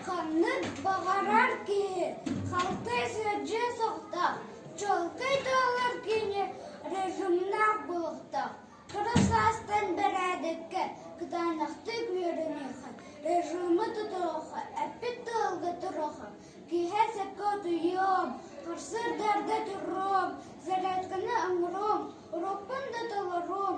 Ханнык баҕарар киһи халтай сыдьыы суохтаах, чуолкай туолар киһини режимнээх буолуохтаах. Кыра саастан бэрээдэккэ кытаанахтык үөрэниэххэ, режимы тутуохха, эппит тылга туруохха. Киэһэ сөпкө утуйуом, харсыардарга туруом, зарядканы оҥоруом, урукпун да толоруом,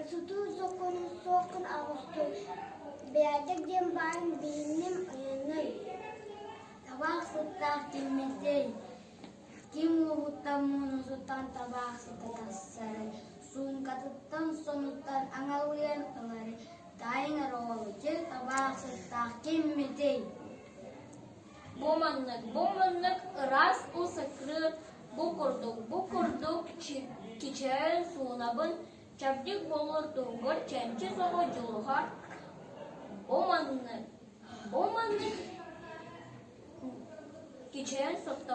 Учутуу сокуон суоххун оҕустун бэйэтик диэн баарын билинним ойуннан табаах сыттаах тиимэсэй ким уоһуттан муунусуттан табаах сыта тахсары суумкатыттан сонуттан аҥалыйан ылары таайыҥ ороҕолуччу табаах сыттаах киммитий Бу маннык, бу маннык ыраас уу сакры бу курдук, бу курдук кичээн суунабын чэбдик болурдуугар чэнчи соҕу дьулуһар бу маннык бу маннык кичээн сотто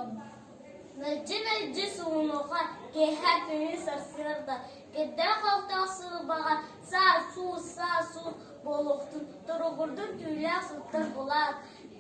мэлдьи мэлдьи суунуха киэһэ күнү сарсыарда кирдээх-халтаах сылбаҕа саа суус саа суус буолуохтун туругурдун түүлээх сылтар булаат